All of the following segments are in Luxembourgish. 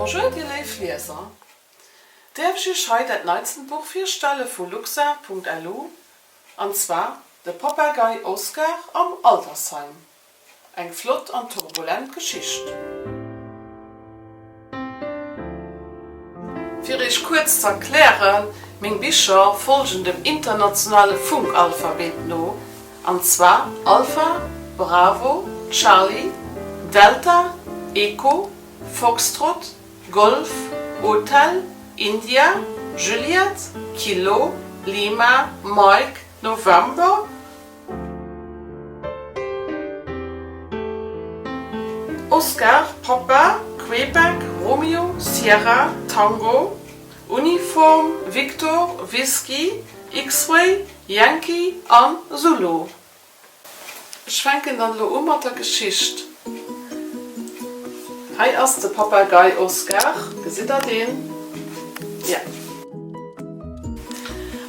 Bonjour dir léif Lieser! Däerf ech iech hei dat neitsten Buch virstelle vu luxar.lu, an zwar De Papagei Oscar am Altersheim. Eng flott an turbulent Geschicht. Fir Iech kuerz ze erklären, meng Bicher folgen dem internationale Funkalphabet no, an zwar Alpha, Bravo, Charlie, Delta, Echo, Foxtrot, Golf, Hotel, India, Juliette, Kilo, Lima, Mike, November, Oscar, Papa, Québec, Romeo, Sierra, Tango, Uniform, Victor, Whisky, X-Ray, Yankee an Zulu. Ech fänken dann elo u mat der Geschicht. Hei ass de Papagei Oscar, gesitt der deen? Jo.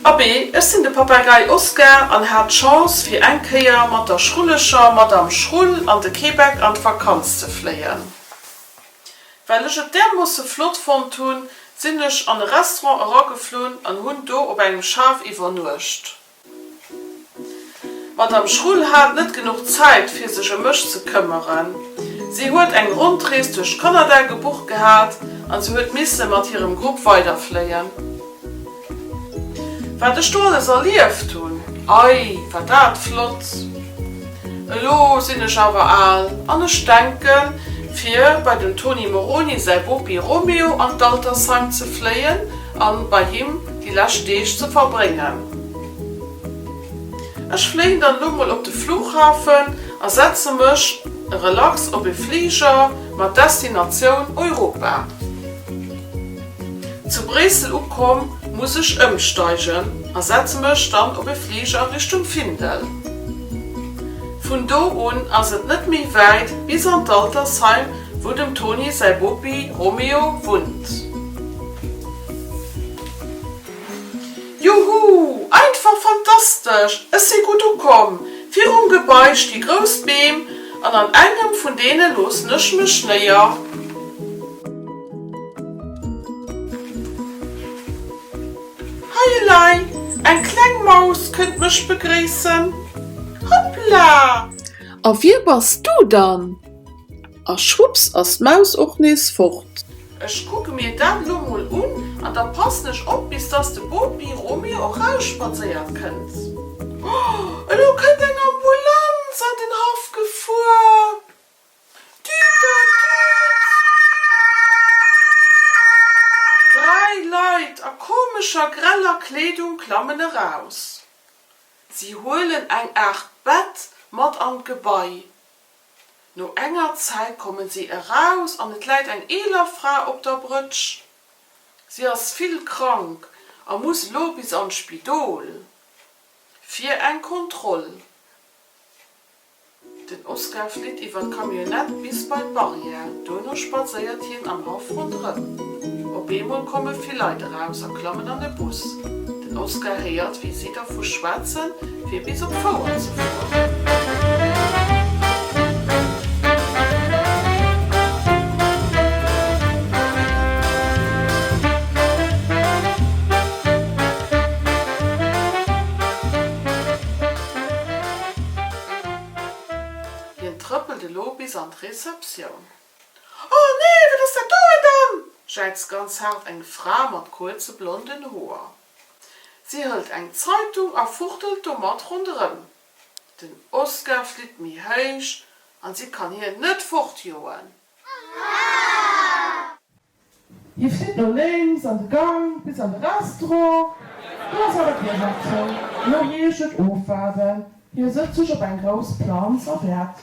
Abee, ech sinn de Papagei Oscar an hat d'Chance fir eng Kéier mat der schrulleger Madame Schrull an de Québec an d'Vakanz ze fléien. Well ech et därmoosse flott fonnt hunn, sinn ech an e Restaurant erageflunn an hunn do op engem Schaf iwwernuecht. D'Madame Schrull hat net genuch Zäit, fir sech ëm mech ze këmmeren. Si huet eng Rondrees duerch Kanada gebucht gehat an se huet misse mat hirem Grupp weiderfléien. Wat ech do alles erlieft hunn, ei, war dat flott! Elo sinn ech awer al an ech denken, fir bei dem Tony Moroni säi Bopi Romeo an d'Altersheim ze fléien a bei him déi lescht Deeg ze verbréngen. Ech fléien dann elo mol op de Flughafen a setze mech relax op e Fliger mat Destinatioun Europa. Zu Bréissel ukomm, muss ech ëmsteigen a setze mech dann op e Fliger Richtung Findel. Vun do un ass et net méi wäit bis an d'Altersheim. Wou dem Toni säi Bopi Romeo wunnt. Juhu! Einfach fantastesch! Ech si gutt ukomm. Virum Gebai sti grouss Beem an an engem vun deene loossen ech mech néier. Hei elei, eng kleng Maus kënnt mech begréissen. Hoppla! A wie bass du dann? A schwupps ass d'Maus och nees fort. Ech kucke mir dat lo mol un an da passen ech op, bis dass de Bopi Romeo erausspadséiert kënnt. Oh, elo kënnt eng Ambulanz an den Haff gefuer! Düderdüd! Dräi Leit a komescher greller Kleedung klammen eraus. Si huelen eng Aart Bett mat an d'Gebai. No enger Zäit kommen si eraus an et läit eng eeler Fra op der Brëtsch. Si ass vill krank a muss elo bis an d'Spidol fir eng Kontroll. Den Oscar flitt iwwer d'Camionnette bis bei d'Barrière. Duerno spadséiert hien am Haff ronderëm. Op eemol komme vill Leit eraus a klammen an e Bus. Den Oscar héiert, wéi si dervu schwätzen, Fir bis op Fouer ze fueren. Hien trëppelt elo bis an d'Receptioun. Oh nee, wat ass dat doheem dann? jäizt ganz haart eng Fra mat kuerze blonden Hoer. Si hëlt eng Zeitung a fuchtelt domat ronderëm. Den Oskar flitt méi héich an si kann hien net fortjoen. Hie flitt no lénks an de Gang bis an de Restaurant. Do ass awer d'Dier nach zou. Elo heescht et ofwaarden. Hie sëtzt sech op eng grouss Planz a wäert.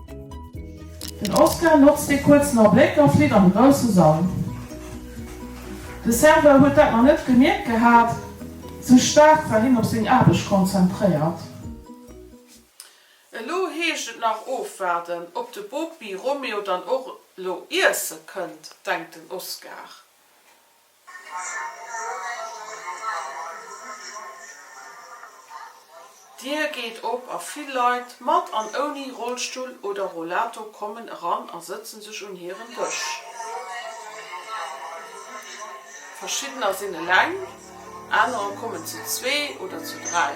Den Oscar notzt dee kuerzen Abléck a flitt an de grousse Sall. De Serveur huet dat nach net gemierkt gehat, sou staark war hien op seng Aarbecht konzentréiert. Elo heescht et nach ofwaarden, ob de Bopi Romeo dann och elo iesse kënnt, denkt den Oscar. D'Dier geet op a vill Leit, mat an ouni Rollstull oder Rollator, kommen eran a sëtzen sech un hiren Dësch. Verschiddener sinn eleng, anerer kommen zu zwee oder zu dräi.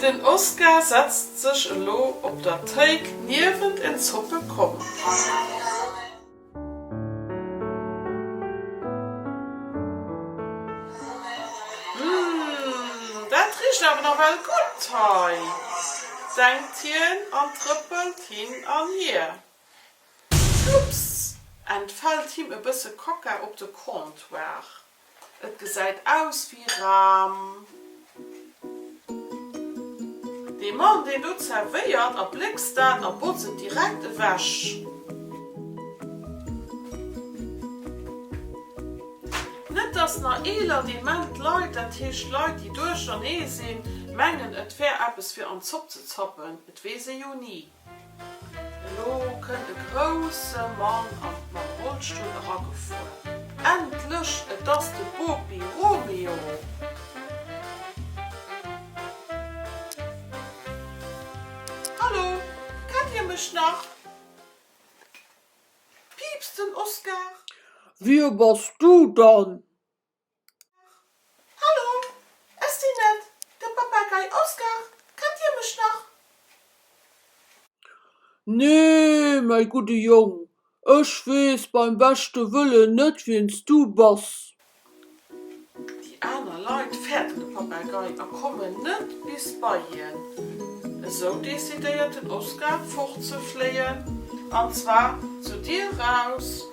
Den Oscar setzt sech elo op der Théik niewent en Zoppe Komm. Humm, dat richt awer nawell gutt hei, denkt hien an trëppelt hin an hier. Schlups! entfält him e bësse Kaka op de Comptoir. Et gesäit aus wéi Ram. Dee Mann deen do zerwéiert a bléckst dat a botz et direkt ewech. Net dass na eeler dement Leit, dat heescht Leit déi duerchernee sinn, mengen et wär eppes fir an d'Zopp ze zappen, et weess ee jo ni. Elo kënnt e grousse Mann an mam Rollstull eragefuer. Endlech! Et ass de Bopi Romeo! Hallo! Kennt dir mech nach? piipst den Oskar. Wie bass du dann? Hallo, ech sinn net de Papagei Oskar, kennt dir mech nach? Nee, mäi gudde Jong, ech weess beim beschte Wëllen net, wien s du bass. Déi aner Leit fäerten de Papagei a kommen net bis bei hien. Esou decidéiert den Oskar, fortzefléien, an zwar zu dir raus,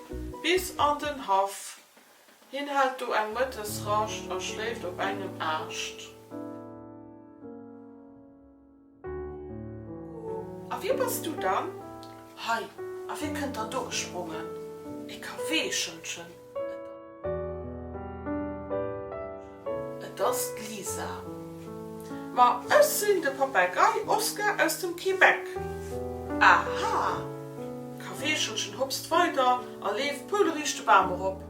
bis an den Haff, Hien hält do eng Mëttesrascht a schléift op engem Aascht. A wie bass du dann? Hei, a wie kënnt dann do gesprongen? E Kaweechelchen! Et ass d'Lisa. Ma ech sinn de Papagei Oskar aus dem Québec. Aha! D'Kaweechelchen hopst weider a leeft pouleréisch de Bam erop.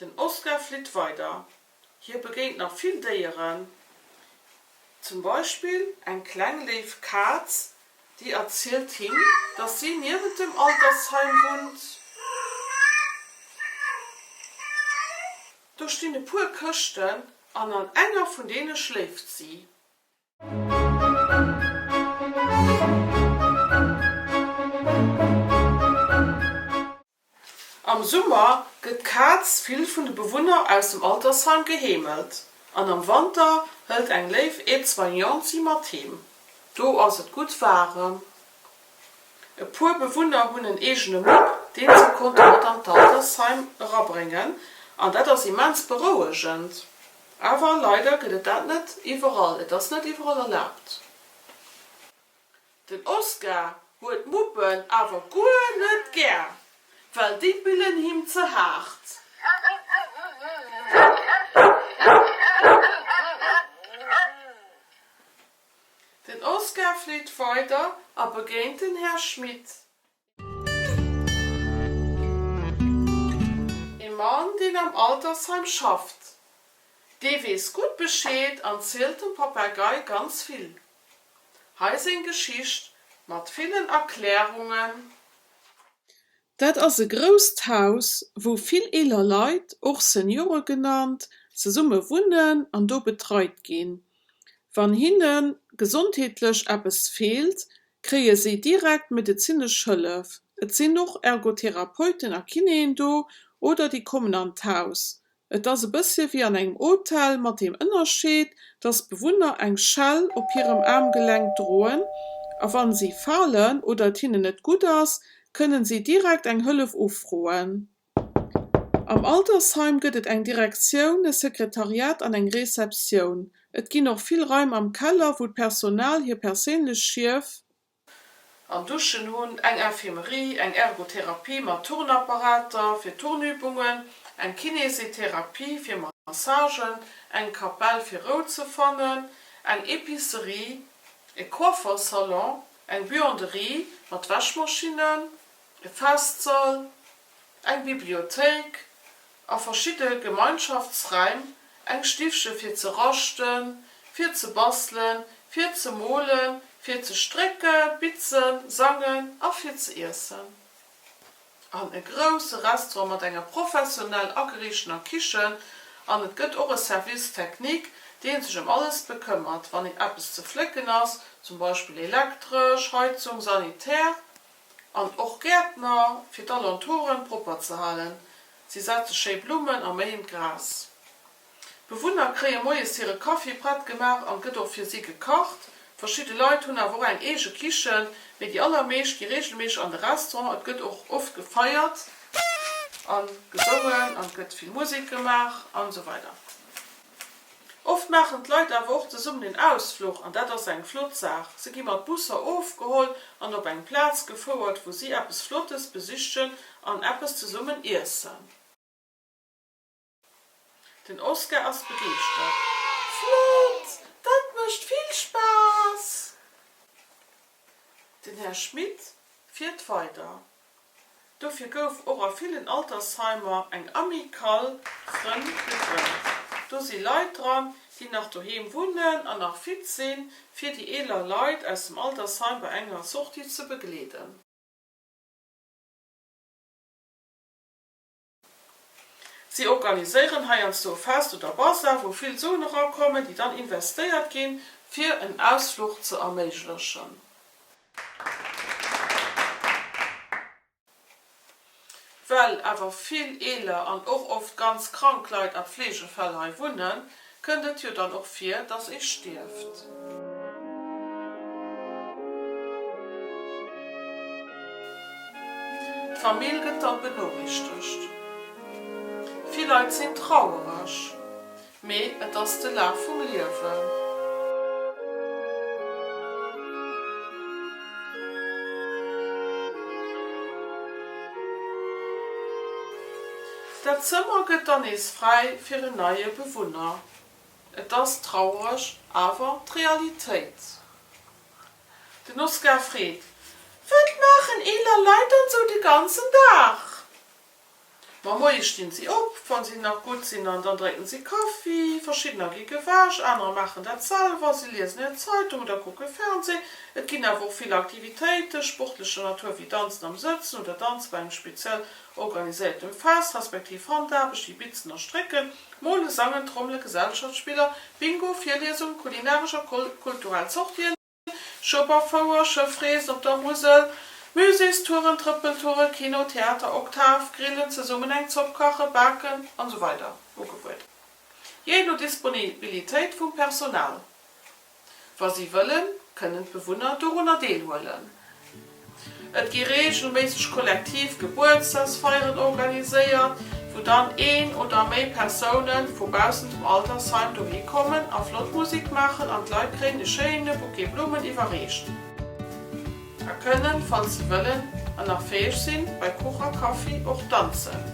Den Oskar flitt weider. Hie begéint nach vill Déieren, zum Beispill eng kleng léif Kaz, déi erzielt him, dass si niewent dem Altersheim wunnt. Do stinn e puer Këschten an an enger vun deene schléift si. Am Summer gëtt d'Kaz vill vun de Bewunner aus dem Altersheim geheemelt an am Wanter hëlt eng léif Aide-soignante si mat heem. Do ass et gutt waarem. E puer Bewunner hunn en eegene Mupp, deen se konnte mat an d'Altersheim erabréngen an dat ass immens berouegend. Awer leider gëtt et dat net iwwerall, et ass net iwwerall erlaabt. Den Oscar huet Muppen awer guer net gär, well déi billen him ze haart. Den Oscar fleet weider a begéint den Här Schmit. Ee Mann, deen am Altersheim schafft. Dee weess gutt Bescheed an zielt dem Papagei ganz vill. Hei seng Geschicht mat villen Erklärungen. Dat ass e grousst Haus, wou vill eeler Leit, och Seniore genannt, zesumme wunnen an do betreit ginn. Wann hinne gesondheetlech eppes feelt, kréie si direkt medezinesch Hëllef. Et sinn och Ergotherapeuten a Kinéen do oder déi kommen an d'Haus. Et ass e bëssche wéi an engem Hotel mat deem Ënnerscheed, dass d'Bewunner eng Schell op hirem Aarmgelenk droen a wann si falen oder et hinnen net gutt ass, kënnen si direkt eng Hëllef ufroen. Am Altersheim gëtt et eng Direktioun, e Sekretariat an eng Receptioun. Et ginn och vill Raim am Keller, wou d'Personal hir perséinlech Schief. An Duschen hunn, eng Infirmerie, eng Ergotherapie mat Turnapparater fir Turnübungen, eng Kinesetherapie fir Massagen, eng Kapell fir Rou ze fannen, eng Epicerie, e Coiffersalon, eng Buanderie mat Wäschmaschinnen, e Festsall, eng Bibliothéik a verschidde Gemeinschaftsräim, eng Stiffche fir ze raschten, fir ze bastelen, fir ze molen, fir ze strécke, bitzen, sangen a fir ze iessen, an e grousse Restaurant mat enger professionell ageriichtener Kichen. An et gëtt och e Service technique, dee sech ëm alles bekëmmert, wann eppes ze flécken ass, zum Beispill elektresch, Heizung, Sanitär. An och Gäertner, fir d'Alentouren propper ze halen. Si setze schéi Blummen a méien d'Gras. D'Bewunner kréie moies hire Kaffi prett gemaach an et gëtt och fir si gekacht. Verschidde Leit hunn awer och eng eege Kichen, mee déi allermeescht gi reegelméisseg an de Restaurant. Et gëtt och oft gefeiert a gesongen an et gëtt vill Musek gemaach an esou weider. Oft maachen d'Leit awer och zesummen en Ausfluch an dat ass eng flott Saach. Se gi mat Busser ofgeholl an op eng Plaz gefouert, wou si eppes Flottes besichen an eppes zesummen iessen. Den Oskar ass begeeschtert. Flott! Dat mécht vill Spaass! Den Här Schmit fiert weider. Dofir gouf och a villen Altersheimer eng Amicale Frënn gegrënnt. Do si Leit dran, déi nach doheem wunnen an nach fit sinn, fir déi eeler Leit aus dem Altersheim bei enger Sortie ze begleeden. Si organiséieren heiansdo e Fest oder Bazar, wou vill Suen erakommen, déi dann investéiert ginn, fir en Ausfluch ze erméiglechen. Well awer vill eeler an och oft ganz krank Leit a Pfleegefäll hei wunnen, Kënnt et jo dann och vir, dass ee stierft. D'Famill gëtt dann benorichtegt. Vill Leit sinn trauereg, mee et ass de Laf vum Liewen. Dat Zëmmer gëtt dann nees fräi fir en neie Bewunner. Et ass traureg, awer d'Realitéit. Den Oskar freet, Wat maachen eeler Leit dann sou de ganzen Dag? Ma moies stinn si op, wann si nach gutt sinn, an dann drénken si Kaffi. Verschiddener gi gewäsch, anerer maachen dat selwer, si liesen hir Zeitung oder kucke Fernsee. Et ginn awer och vill Aktivitéite sportlecher Natur, wéi Danzen am Sëtzen oder Danze bei engem speziell Organiséiert dem Fest respektiv Handaarbecht wéi Bitzen a Strécken, Molen, Sangen, Trommelen, Gesellschaftsspiller, Bingo, Virliesungen, kulinaresch a kulturell Sortien, Schueberfouer, Schëffreesen op der Musel, Muséestouren, Trëppeltoure, Kino, Theater, Oktav, Grillen, zesummen eng Zopp kachen, baken an esou weider ugebueden, jee no Disponibilitéit vum Personal. Wa si wëllen, kënnen d'Bewunner dorunner deelhuelen. Et gi reegelméisseg kollektiv Gebuertsdagsfeieren organiséiert, wou dann een oder méi Persoune vu baussent dem Altersheim dohi kommen a flott Musik maachen an d'Leit kréien e schéine Bouquet Blummen iwwerreecht a kënnen, falls si wëllen an nach fäeg sinn, bei Kuch a Kaffi och danzen.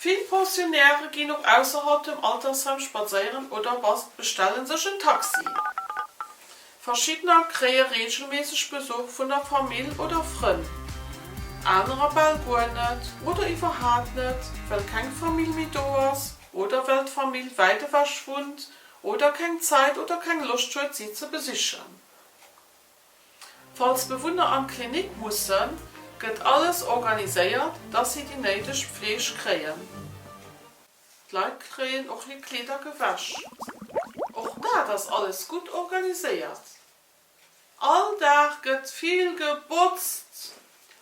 Vill Pensionäre ginn och ausserhalb dem Altersheim spadséieren oder bestelle sech en Taxi. Verschiddener kréie reegelméisseg Besuch vun der Famill oder Frënn, anerer bal guer net oder iwwerhaapt net, well keng Famill méi do ass oder well d'Famill wäit ewech wunnt oder keng Zäit oder keng Loscht huet, si ze besichen. Falls Bewunner an d'Klinik mussen, gëtt alles organiséiert, dass si déi néideg Pfleeg kréien. D'Leit kréien och hir Kleeder gewäsch. Och dat ass alles gutt organiséiert. All Dag gëtt vill gebotzt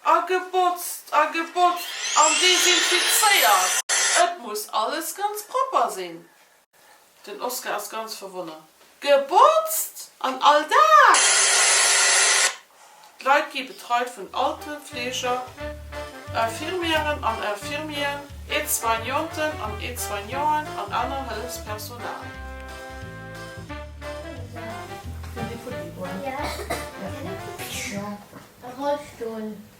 a gebotzt a gebotzt an desinfizéiert. Et muss alles ganz propper sinn. Den Oskar ass ganz verwonnert. Gebotzt! An all Dag! D'Leit gi betreit vun Altenpfleger, Infirmièren an Infirmieren, Aide-soignanten an Aide-soignanten an aner Hëllefspersonal.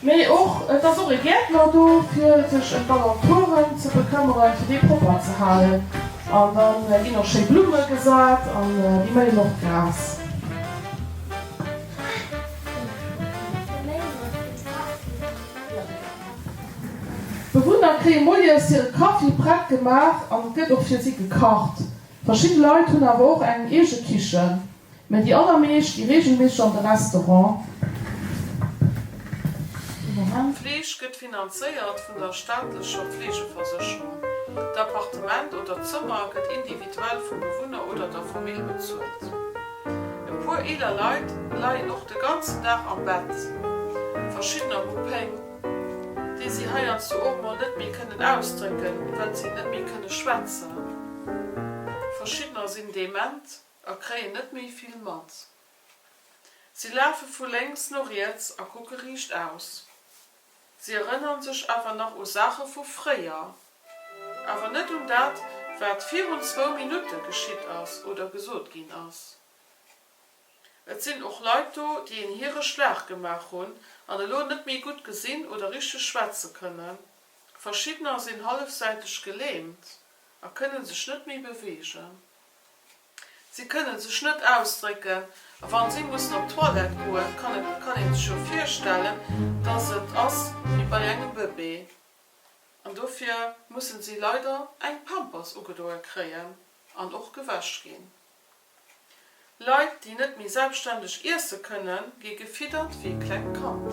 Mee och et ass och e Gäertner do fir sech em d'Alentouren ze bekëmmeren, fir déi propper ze halen. An da ginn och schéi Blumme gesat an déi méien och d'Gras. D'Bewunner kréie moies hire Kaffi prett gemaach an et gëtt och fir si gekacht. Verschidde Leit hunn awer och eng eege Kichen. Mä déi allermeescht gi reegelméisseg an de Restaurant. D'Fleeg gëtt finanzéiert vun der staatlecher Fleegeversécherung. D'Appartement oder d'Zëmmer gëtt individuell vum Bewunner oder der Famill bezuelt. E puer eeler Leit leien och de ganzen Dag am Bett. Verschiddener hu Péng, déi si heiansdo och mol net méi kënnen ausdrécken, well si net méi kënne schwätzen. Verschiddener sinn dement. A kréien net méi vill mat. Si lafe vu lénks no riets a kucke riicht aus. Si erënnere sech awer nach u Saache vu fréier. Awer net un dat, wat virun zwou Minutte geschitt ass oder gesot ginn ass. Et sinn och Leit do, déi en Hiereschlag gemaach hunn an elo net méi gutt gesinn oder richteg schwätze kënnen. Verschiddener sinn hallefsäiteg gelähmt a kënne sech net méi beweegen. Si kënne sech net ausdrécken a wa si mussen op d'Toilette goen, kann ee sech jo virstellen, dass et ass wéi bei engem Bëbee. An dofir musse si leider eng Pampers ugedoe kréien an och gewäsch ginn. Leit, déi net méi selbstständeg iesse kënnen, gi gefiddert wéi e klengt Kand.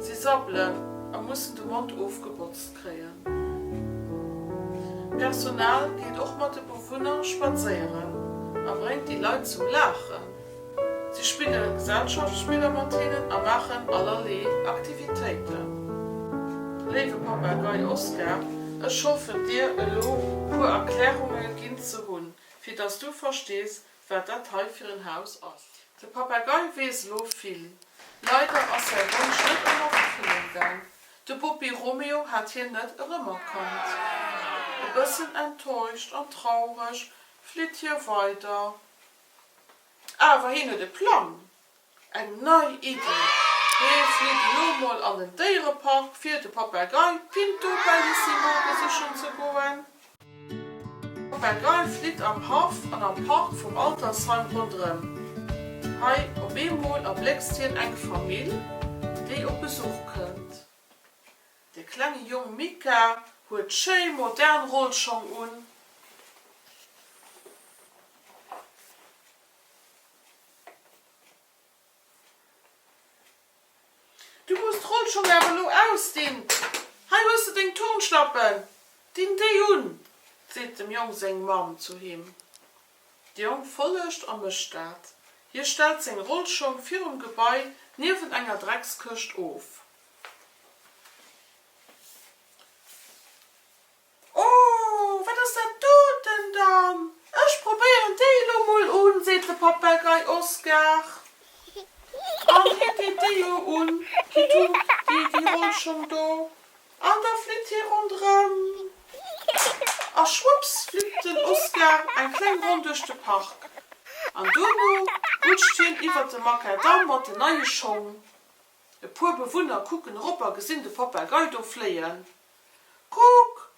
Si sabbelen a mussen de Mond ofgebotzt kréien. D'Personal geet och mat de Bewunner spadséieren a bréngt déi Leit zum Laachen. Si spille Gesellschaftsspiller mat hinnen a maachen allerlee Aktivitéiten. Léiwe Papagei Oskar, ech hoffen dir elo puer Erklärunge ginn ze hunn, fir dass du verstees, Wat dat hei fir en Haus ass. De Papagei weess elo vill. Leider ass säi Wonsch net ëm Erëffillung gaang. De Buppi Romeo hat hien net erëmerkannt. E bëssen enttäuscht an traureg flitt hie weider. Awer hien huet e Plang. Eng nei Iddi, Mir flitt elo mol an den Déierepark fir de Papagei Pinto Bellissimo besichen ze goen. De Papagei flitt am Haff an am Park vum Altersheim ronderëm. Hei op eemol erbléckst hien eng Famill, déi op Besuch kënnt. De klenge Jong Mika huet schéi modern Rollschong un. Du muss d'Roll schonn awer elo ausdinn. Hei hues de deng Turnschlappen, dinn déi un! seet dem Jong seng Mamm zu him. De Jong follegt a mécht dat. Hie stellt seng Rollschong virum Gebai niewent enger Dreckskëscht of. Oh, wat ass dat doten dann? Ech probéieren déi elo mol un, seet de Papagei Oskar. An hie geet déi jo un, Kitu, déi déi holl schonn do. An da flitt hie ronderëm. A schwupps flitt den Oskar eng kleng Ronn duerch de Park. An duerno rutscht hien iwwert de Makadamm mat den neie Schong. E puer Bewunner kucken erop a gesinn de Papagei do fléien. Kuck,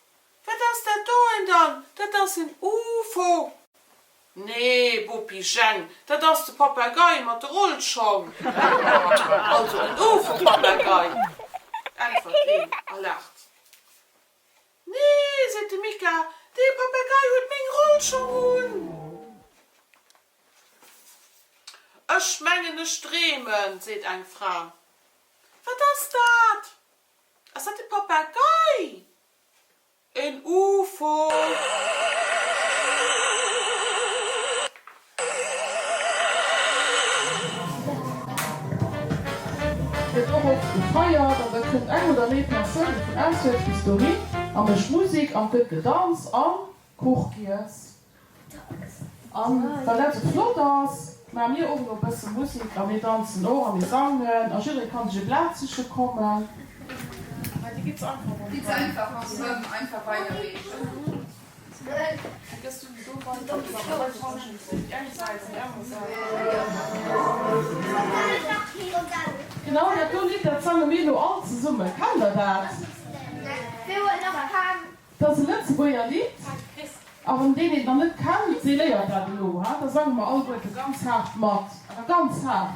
wat ass dat do en dann? Dat ass en Ufo! Nee, Bopi Jeng, dat ass de Papagei mat de Rollschong. Also en Ufo-Papagei! äntwert een a laacht. Nee, seet de Mika, dee Papagei huet meng Rollschong un! Ech mengen, ech dreemen, seet eng Fra. Wat ass dat? Ass dat de Papagei? En UFO? Gëtt och oft gefeiert an da kënnt eng oder méi Persoune vun auswäerts bis dohin a mécht Musik an et gëtt gedanzt a Kuch giess. An wann eppes flott ass, maa mir och elo e bësse Musik a mir danzen och a mir sangen a jidderee kann sech e Blat siche kommen. Mä déi gëtt es einfach ronderëm, einfach weiderreechen. 't ass e Lëtzebuerger Lidd, a wann deen et nach net kennt, dee léiert dat elo. Da sange mer alleguerte ganz haart mat, awer ganz haart.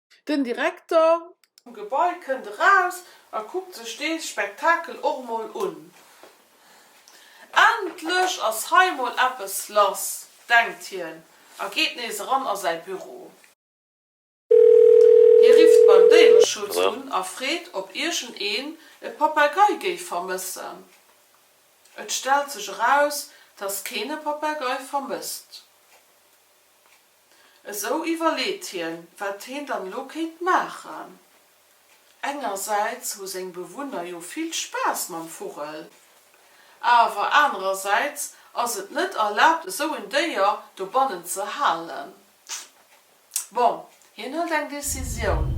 Den Direkter. Vum Gebai kënnt eraus a kuckt sech dee Spektakel och mol un. Endlech ass hei mol eppes lass, denkt hien a geet nees eran a säi Büro. Hie rifft beim Déiereschutz un a freet, ob iergend een e Papagei géif vermëssen. Et stellt sech eraus, dass keen e Papagei vermësst. Esou iwwerleet hien, wat heen dann elo kéint maachen. Engersäits hu seng Bewunner jo vill Spaass mam Vugel, awer anerersäits ass et net erlaabt, esou en Déier dobannen ze halen. Bon, hien hëlt eng Decisioun,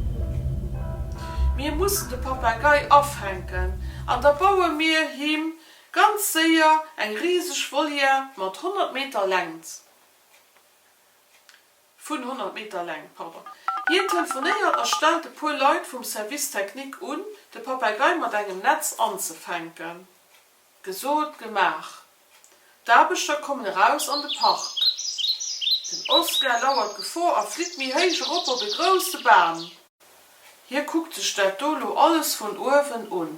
Mir mussen de Papagei afänken an da baue mir him ganz séier eng riseg Volière mat 100 Meter Längt. vun 100 Meter Längt, pardon. Hien telefonéiert a stellt e puer Leit vum Service technique un, de Papeigei mat engem Netz anzefänken. Gesot, gemaach. D'Aarbechter kommen eraus an de Park. Den Oscar lauert d'Gefor a flitt méi héich erop op e grousse Bam. Hie kuckt sech dat do lo alles vun uewen un.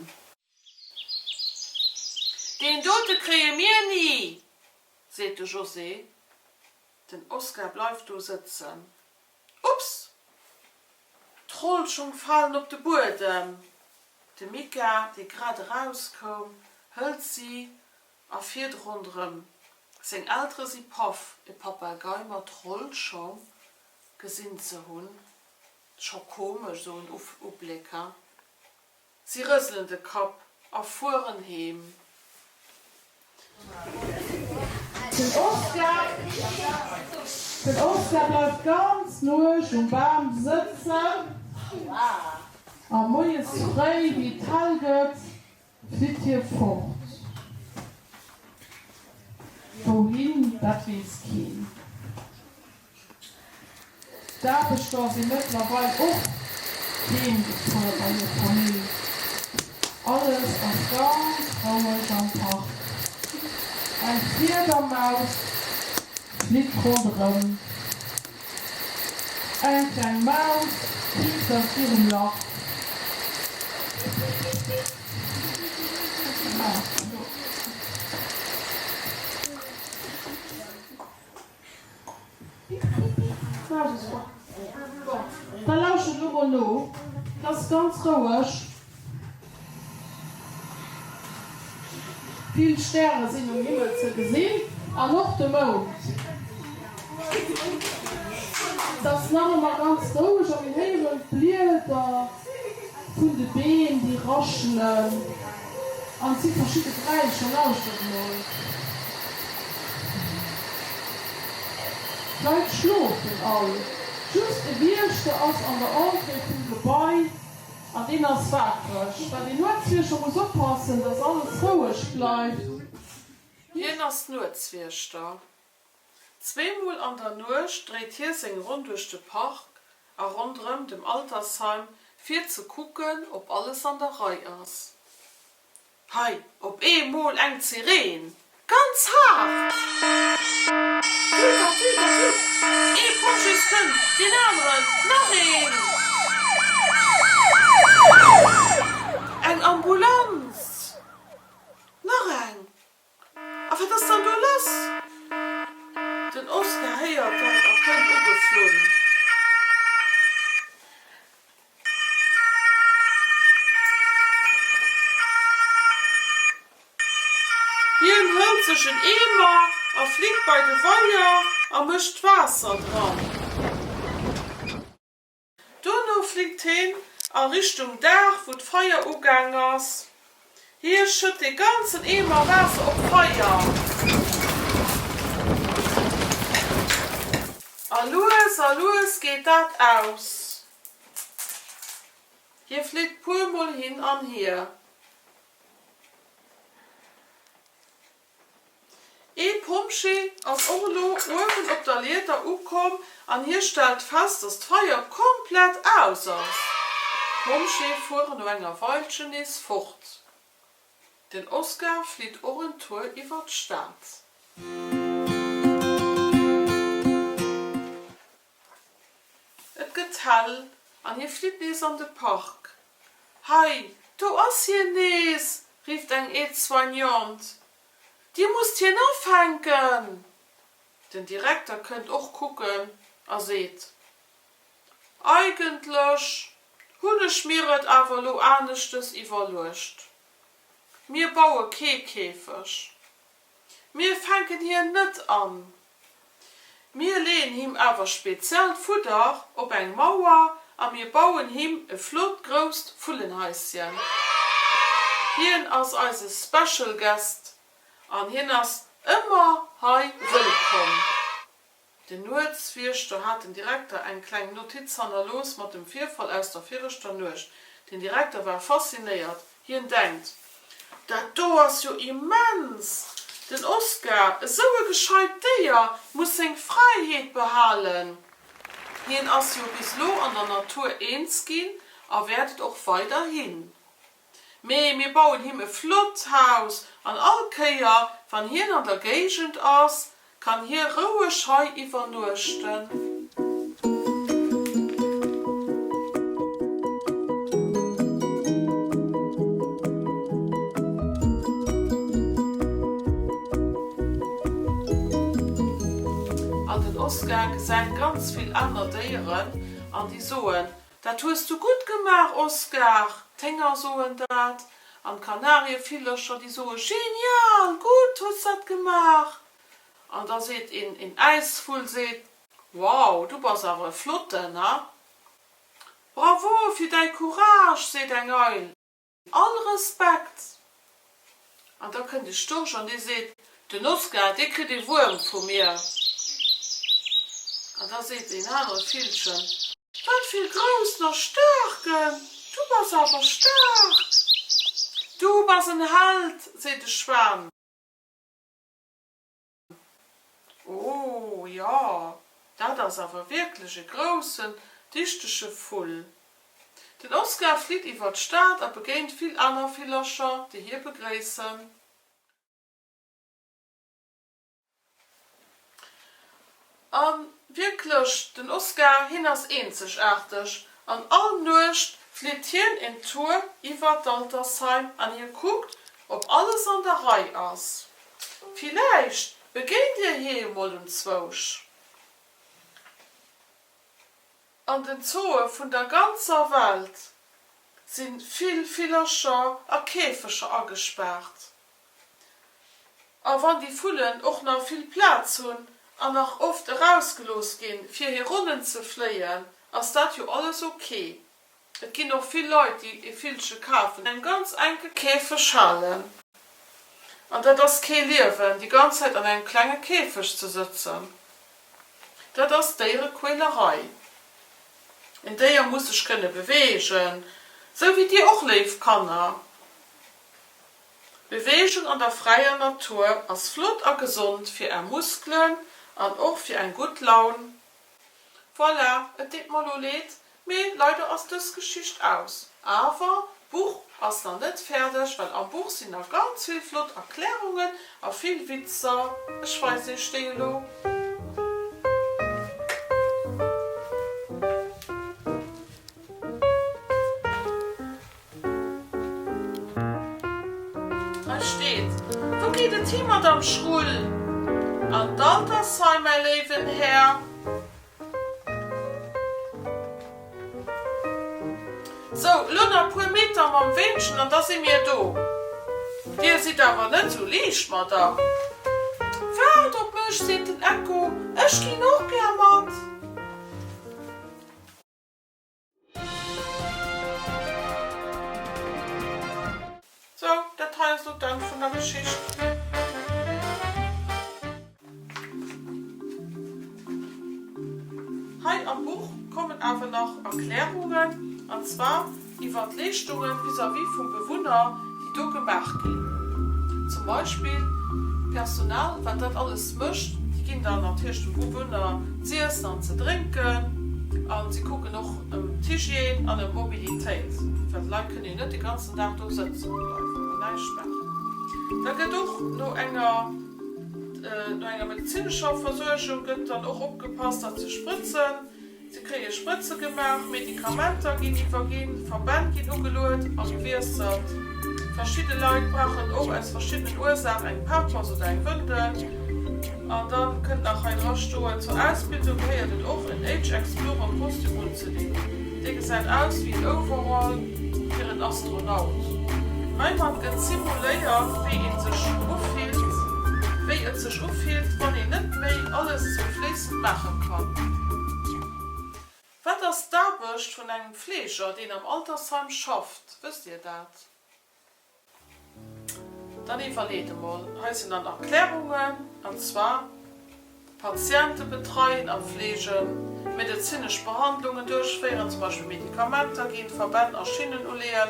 Deen dote kréie mir ni, seet de José. Den Oskar bleift do sëtzen. Ups! D'Rollschung falen op de Buedem. De Mika, dee grad eraus koum, hëlt si a fiert ronderëm. Seng Eltere si paff, e Papagei mat Rollschong gesinn ze hunn. Scho komesch, sou en Ubléck, ha? Si rëselen de Kapp a fueren heem. Den Oscar bleift ganz lueg um Bam sëtzen a moies fréi, wéi et hell gëtt, flitt hie fort. Wouhin, dat weess keen. D'Aarbechter si mëttlerweil och heemgezunn bei hir Famill. Alles ass ganz roueg am Park. Eng Fliedermaus flitt ronderëm. Eng kleng Maus piipt aus hirem Lach. Da lauschtert elo mol no, et ass ganz roueg, vill Stäre sinn um Himmel ze gesinn an och de Mound. Et ass nach ëmmer ganz roueg a mir héieren d'Blieder vun de Beem, déi raschelen. An et si verschidde Geräischer, lauschtert emol. D'Leit schlofen all. Just e Wiechter ass an der Entrée vum Gebai an deen ass waakreg, well deen Nuetswiechter muss oppassen, datt alles roueg bleift. Hien ass Nuetswiechter. Zweemol an der Nuecht dréit hie seng Ronn duerch de Park a ronderëm dem Altersheim fir ze kucken op alles an der Rei ass. Hei op ee Mol eng Zireen! Ganz haart! Vlut a Vlut a Vlut! Ee Pompjees kënnt, deen aneren, nach een! Eng Ambulanz! Nach eng! A wat ass dann do lass? Den Oscar héiert dat a kënnt ugeflunn. Hien hëlt sech en Eemer a flitt bei de Weier a mécht d'Waasser dran. Duerno flitt heen a Richtung Daach, wou d'Feier ugaang ass. Hie schëtt dee ganzen Eemer Waasser op d'Feier a lues a lues geet dat aus. Hie flitt puer mol hin an hier. Ee Pompjee ass och elo uewen op der Lieder ukomm an hie stellt fest, dass d'Feier komplett aus ass. D'Pompjee fueren no enger Weilchen nees fort. Den Oscar flitt och en Tour iwwer d'Stad. Et gëtt hell an hie flitt nees an de Park. Hei, do ass hien nees! rifft eng Aide-soignante. Dir musst hien afänken! Den Direkter kënnt och kucken a seet, Eigentlech hunn ech mir et awer lo aneschtes iwwerluecht. Mir baue kee Käfeg. Mir fänken hien net an. Mir leeën him awer speziellt Fudder op eng Mauer a mir bauen him e flott grousst Vullenhaisschen. Hien ass eise Special Guest an hien ass ëmmer hei wëllkomm. Den Nuetswiechter hat den Direkter eng kleng Notiz hannerlooss mat dem Virfall aus der viregter Nuecht. Den Direkter war faszinéiert. Hien denkt, Dat do ass jo immens! Den Oskar, esou e gescheit Déier, muss seng Fräiheet behalen. Hien ass jo bis lo an der Natur eens ginn a wäert et och weiderhin. Mee mir bauen him e flott Haus an all Kéier, wann hien an der Géigend ass, kann hie roueg hei iwwernuechten. An den Oscar gesäit ganz vill aner Déieren an déi soen, Dat hues du gutt gemaach, Oscar! D'Hénger soen dat, an d'Kanarievillchercher, déi soe Genial! Gutt hues du dat gemaach! An da seet een, een Äisvull seet, Wow, du bass awer e Flotten, ha! Bravo fir däi Courage! seet eng Eil. All Respekt! An da kënnt de Storch an dee seet, Den Oskar, dee kritt ee Wuerm vu mir. An da seet deen anere Villchen, Wat fir e groussen a staarken! Du bass awer staark! Du bass en Held! seet de Schwan. Oh jo, dat ass awer wierklech e groussen, dichtege Vull. Den Oskar flitt iwwer d'Stad a begéint vill aner Villercher, déi hie begréissen. A wierklech, den Oscar, hien ass eenzegaarteg. An all Nuecht flitt hien een Tour iwwer d'Altersheim an hie kuckt, ob alles an der Rei ass. Villäicht begéint Dir hie jo mol unzwousch. An den Zooe vun der ganzer Welt si vill Villercher a Käfeger agespaart. A wann déi Vullen och nach vill Plaz hunn an nach oft erausgelooss ginn, fir hir Ronnen ze fléien, ass dat jo alles ok. Et ginn och vill Leit, déi e Villche kafen, an engem ganz enke Käfeg halen. An dat ass kee Liewen, déi ganz Zäit an engem klenge Käfeg ze sëtzen. Dat ass Déierequälerei. En Déier muss sech kënne beweegen, esou wéi dir och, léif Kanner. Beweegung an der fräier Natur ass flott a gesond fir är Muskelen an och fir eng gutt Laun. Voilà, et deet mer elo leed, Mee leider ass dës Geschicht aus. Awer d'Buch ass nach net fäerdeg, well am Buch sinn nach ganz vill flott Erklärungen a vill Witzer. Ech weisen iech déi elo. Hei steet, Wou geet et hi, Madame Schrull? An d'Altersheim, mäi léiwen Här. Sou, lo nach puer Meter mam Weenchen an da si mir do. Dir sidd awer net sou liicht, Madame. Waart op mech, seet den Ecko, ech ginn och gär mat. Sou, dat hei ass elo d'Enn vun der Geschicht. Hei am Buch kommen awer nach Erklärungen, an zwar iwwer d'Leeschtungen vis-à-vis vum Bewunner, déi do gemaach ginn, zum Beispill d'Personal, wat dat alles mécht, déi ginn dann natierlech dem Bewunner z'iessen an ze drénken a si kucken och ëm d'Hygiène an ëm d'Mobilitéit, well d'Leit kënnen jo net de ganzen Dag do sëtzen bleiwen an näischt maachen. Da gëtt och no enger, no enger medezinescher Versuergung gëtt dann och opgepasst, dat ze sprëtzen. Se kréie Sprëtze gemaach, Medikamenter ginn iwwerginn, Verbänn ginn ugeluet a gewiesselt. Verschidde Leit brauchen och aus verschiddenen Ursaach eng Pampers oder eng Wëndel. An da kënnt nach hei dra stoen, Zur Ausbildung gehéiert et och en Age Explorer Kostüm unzedinn. Dee gesäit aus wéi en Overall fir en Astronaut. Heimat gëtt simuléiert, wéi ee sech ufillt, wéi et sech ufillt, wann een net méi alles zum Fliss. maache kann. Wat ass d'Aarbecht vun engem Fleeger, deen am Altersheim schafft? Wësst Dir dat? Dann iwwerleet emol. Hei sinn dann Erklärungen, an zwar, Patiente betreien a fleegen, medezinesch Behandlungen duerchféieren, zum Beispill Medikamenter ginn, Verbänn a Schinnen uleeën,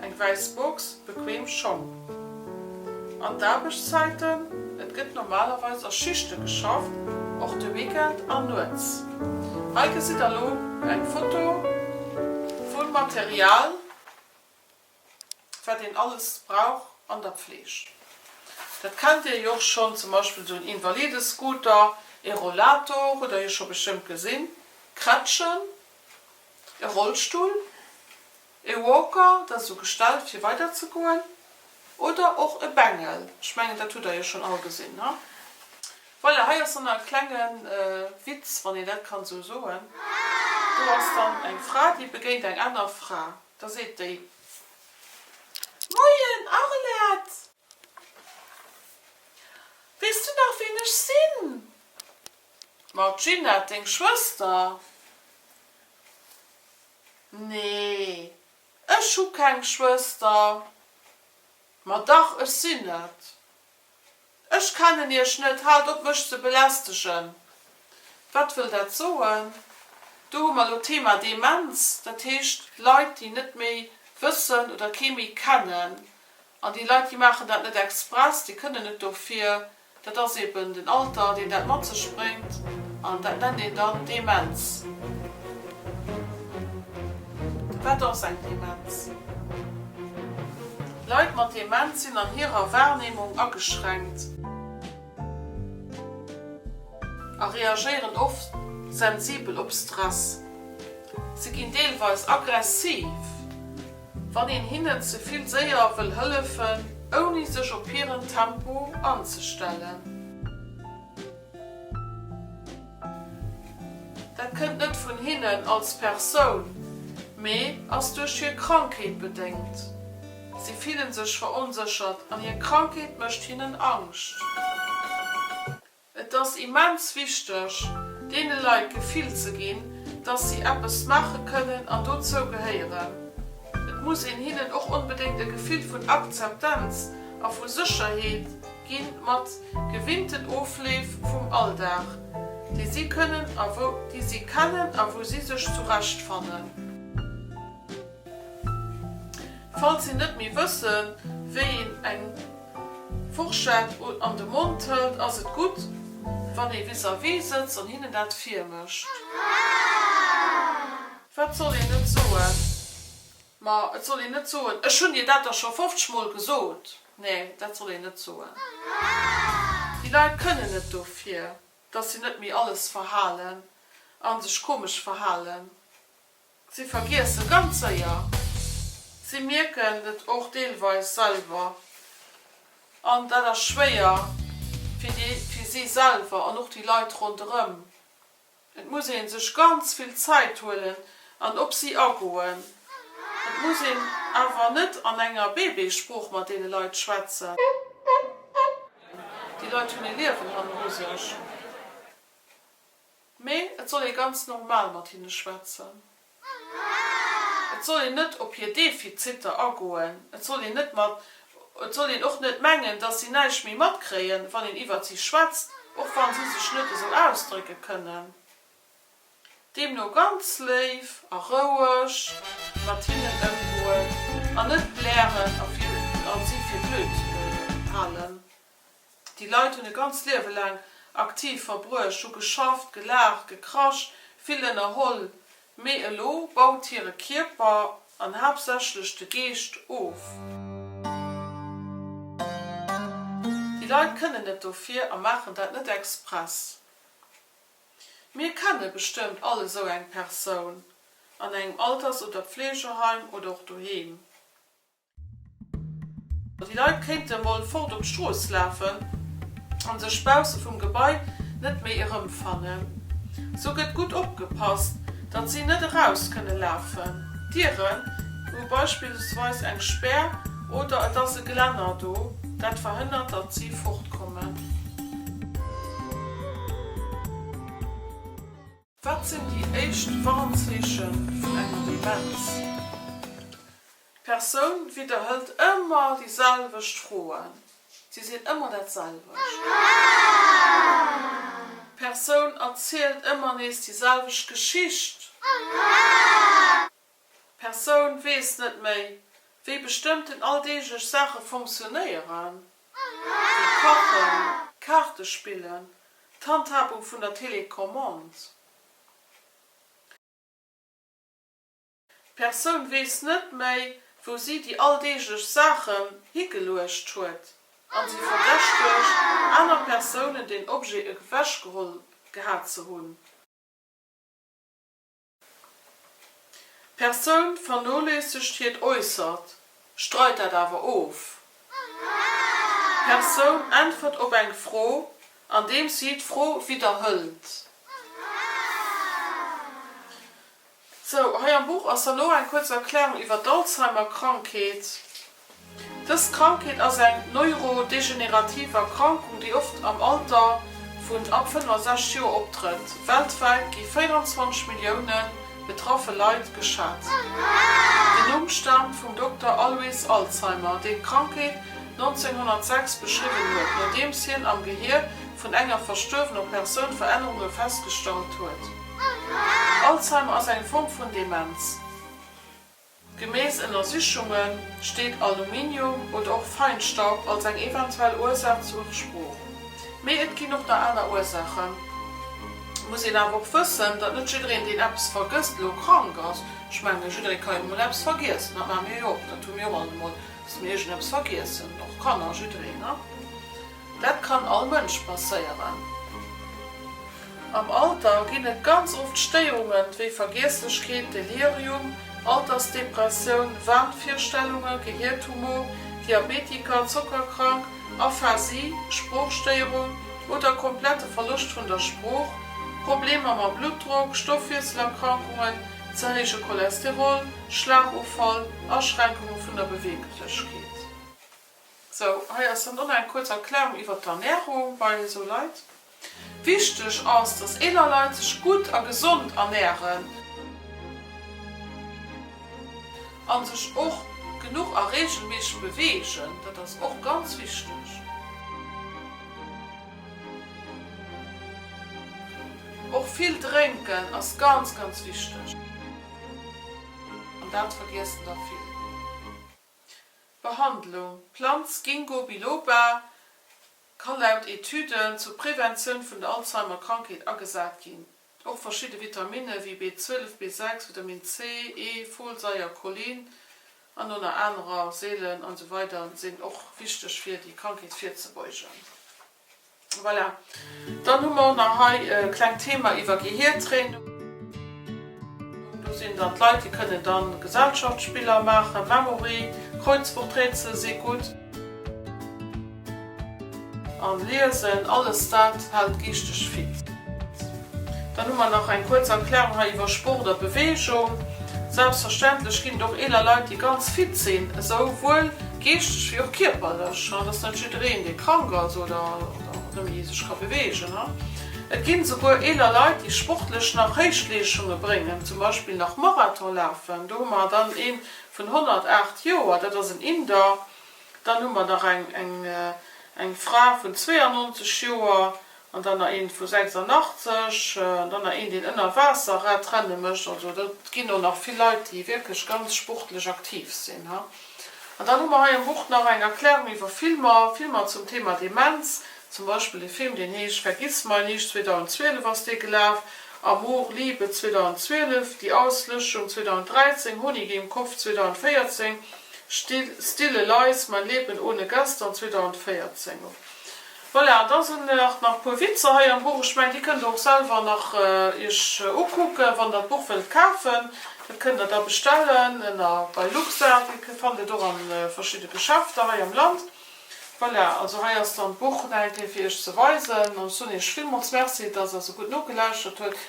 Eng wäiss Box, bequem Schong. An d'Aarbechtszäiten, Et gëtt normalerweis a Schichte geschafft, och de Weekend an nuets. Hei gesitt der elo eng Foto vum Material, wat een alles brauch an der Pfleeg. Dat kennt Dir jo och schonn, zum Beispill esou en Invalidescooter, e Rollator hutt Der jo scho bestëmmt gesinn, Krätschen, e Rollstull. E Walker, dat ass esou gestallt fir weider ze goen, oder och e Bengel, ech mengen dat hutt der jo schonn all gesinn, ne? Voilà, hei ass dann nach e klenge Witz, wann een dat kann esou soen. Do ass dann eng Fra, déi begéint eng aner Fra, da seet déi, Moien Arlette, weess du nach ween ech sinn? Ma Ginette, deng Schwëster. Nee, ech hu keng Schwëster. Ma dach, ech sinn et. Ech kennen iech net, haalt op mech ze belästegen. Wat wëll dat soen? Do hu mer lo d'Thema Demenz, dat heescht Leit, déi net méi wëssen oder kee méi kennen. An déi Leit, déi maachen dat net express, déi kënnen net dofir. Dat ass eben den Alter, deen dat mat sech bréngt, an dat nennt een dann Demenz. Wat ass eng Demenz? Leit mat Demenz sinn an hirer Wahrnehmung ageschränkt a reagéieren oft sensibel op Stress. Si ginn deelweis aggressiv wann een hinnen ze vill séier wëll hëllefen, ouni sech op hiren Tempo anzestellen. Dat kënnt net vun hinnen als Persoun, mee ass duerch hir Krankheet bedéngt. Si fillen sech veronséchert an hir Krankheet mécht hinnen Angscht. Et ass immens wichteg, deene Leit d'Gefill ze ginn, dass si eppes maache kënnen an dozou gehéieren. Et muss een hinnen och onbedéngt e Gefill vun Akzeptanz a vu Sécherheet gi mat gewinnten Ofleef vum Alldag, dee si kënnen a wou déi si kennen a wou si sech zurecht fannen. Falls si net méi wëssen, wéi een eng. Fourchette an de Mond hëlt, ass et gutt, wann ee vis-à-vis sëtzt an hinnen dat virmécht. Wat soll een net soen? Ma et soll een net soen, Ech hunn dir dat der scho 50 Mol gesot! Nee, dat soll een net soen. Déi Leit kënnen net dofir, dass si net méi alles verhalen a sech komesch verhalen. Si vergiesse ganz séier. Si mierken et och deelweis selwer. An dat ass schwéier fir déi, fir si selwer an och déi Leit ronderëm. Et muss ee sech ganz vill Zäit huelen an op si agoen. Et muss een awer net an enger Bébésprooch mat deene Leit schwätzen. Déi Leit hunn ee Liewen hanneru sech. Mee et soll ee ganz normal mat hinne schwätzen. Et soll een net op hir Defiziter agoen. Et soll een net mat, et soll een och net mengen, dass si näischt méi matkréien, wann een iwwert si schwätzt, och wann si sech net esou ausdrécke kënnen. Deemno ganz léif a roueg mat hinnen ëmgoen an net blären a si fir blöd halen. Déi Leit hunn e ganzt Liewe laang aktiv verbruecht, hu geschafft, gelaacht, gekrasch, vill ënnerholl, mee elo baut hire Kierper, an haaptsächlech de Geescht, of. Déi Leit kënnen net dofir a maachen dat net express. Mir kenne bestëmmt all esou eng Persoun, an engem Alters oder Pflegeheim oder och doheem. Déi Leit kéinte mol fort op d'Strooss lafen a sech bausse vum Gebai net méi erëmfannen. Sou gëtt gutt opgepasst, datt si net eraus kënne lafen. D'Dieren hu beispillsweis eng Spär oder et ass e Gelänner do, dat verhënnert, datt si fortkommen. Wat sinn déi éischt Warnzeeche vun enger Demenz? D'Persoun widderhëlt ëmmer déi selwecht Froen. Si sinn ëmmer dat selwecht. D'Persoun erzielt ëmmer nees déi selwecht Geschicht. D'Persoun weess net méi, wéi bestëmmten alldeeglech Saache funktionéieren, wéi kachen, Kaarte spillen, d'Handhabung vun der Télécommande. D'Persoun weess net méi, wou si déi alldeeglech Saachen higeluecht huet a si verdächtegt aner Persounen, deen Objet ewechgeholl gehat ze hunn. D'Persoun vernoléissegt hiert Äussert, streit dat awer of. D'Persoun äntwert op eng Fro, andeems si d'Fro widderhëlt. Sou, hei am Buch ass da lo eng kuerz Erklärung iwwer d'Alzheimer-Krankheet. Dës Krankheet ass eng neurodegenerativ Erkrankung, déi oft am Alter vun ab 65 Joer optrëtt. Weltwäit gi 24 Millioune betraffe Leit geschat. Den Numm staamt vum Dokter Alois Alzheimer, deen d'Krankheet 1906 beschriwwen huet, nodeems hien am Gehier vun enger verstuerwener Persoun Verännerunge festgestallt huet. Alzheimer ass eng Form vun Demenz. Gemäss Ënnersichunge steet Aluminium oder och Feinstaub als eng eventuell Ursaach zu Spruch. Mee et ginn och nach aner Ursaachen. Muss een awer och wëssen, datt net jiddereen deen eppes vergësst elo krank ass. Ech menge jidderee ka jo emol eppes vergiessen, dat maache mir jo och, dat hu mir och all emol, datt mir iergendeppes vergiessen, och Kanner, jiddereen. Dat kann all Mënsch passéieren. Am Alter ginn et ganz oft Stéierunge wéi Vergiesslechkeet, Delirium, Altersdepressioun, Wahnvirstellunge, Gehiertumor, Diabetiker, Zockerkrank, Aphasie, Sproochstéierung oder komplette Verloscht vun der Sprooch, Problemer mam Bluttdrock, Stoffwiesselerkrankungen, ze héije Cholesterol, Schlagofall, Aschränkunge vun der Beweeglechkeet. Sou, hei ass dann dann eng kuerz Erklärung iwwert d'Ernärung bei esou Leit. Wichteg ass, dass eeler Leit sech gutt a gesond ernären. A sech och genuch a reegelméisseg beweegen, dat ass och ganz wichteg. Och vill drénken ass ganz, ganz wichteg. An dat vergiessen der vill. Behandlung, D'Planz Ginkgo biloba ka laut Etüden zur Preventioun vun der Alzheimer-Krankheet agesat ginn. Och verschidde Vitaminne wéi B12, B6, Vitamin C, E, Folsaier, Cholin an ënner anerer Seelen an esou weider sinn och wichteg fir déi Krankheet virzebeugen. Voilà. Dann hu mer och nach hei e klengt Thema iwwer Gehiertraining. Do sinn dann d'Leit, déi kënnen dann Gesellschaftsspiller maachen, Memory, Kreuzworträtsel si gutt. An Liesen, alles dat hält geeschteg fit. Dann hu mer nach eng kuerz Erklärung hei iwwer Sport a Beweegung. Selbstverständlech ginn et och eeler Leit, déi ganz fit sinn, esou wuel Geeschtlech wéi och kierperlech. Et ass net jiddereen, dee krank ass oder nëmme sech ka beweegen. Et ginn esouguer eeler Leit, déi sportlech nach Héichleeschunge bréngen, zum Beispill nach Marathon lafen. Do hu mer dann ee vun 108 Joer, dat ass en Inder. Dann hu mer nach eng Fra vun 92 Joer. An dann nach een vu 86, dann nach een deen ënner Waasser Radrenne mécht. Also do ginn och nach vill Leit déi wierklech ganz sportlech aktiv sinn. An dann hu mer hei am Buch nach eng Erklärung iwwer Filmer, Filmer zum Thema Demenz. Zum Beispill e Film deen heescht Vergissmeinnicht, 2012 ass dee gelaf, Amor, Liebe, 2012, Die Auslöschung, 2013, Honig im Kopf, 2014, Still, Stille Leis, Mein Leben ohne Gaston, 2014. Voilà, an da sen nach nach puer Witzer hei am Buch. Ech mengen déi kënnt der och selwer nach iech ukucken, wann der d'Buch wëllt kafen. Dat kënnt der da bestellen ënner bei LUXA. Dir fannt et och an verschidde Geschäfter hei am Land. Voilà, also hei ass dann d'Buch nach eng Kéier fir iech ze weisen. An ech soen iech villmools Merci, dass der sou gutt nogelauschert huet.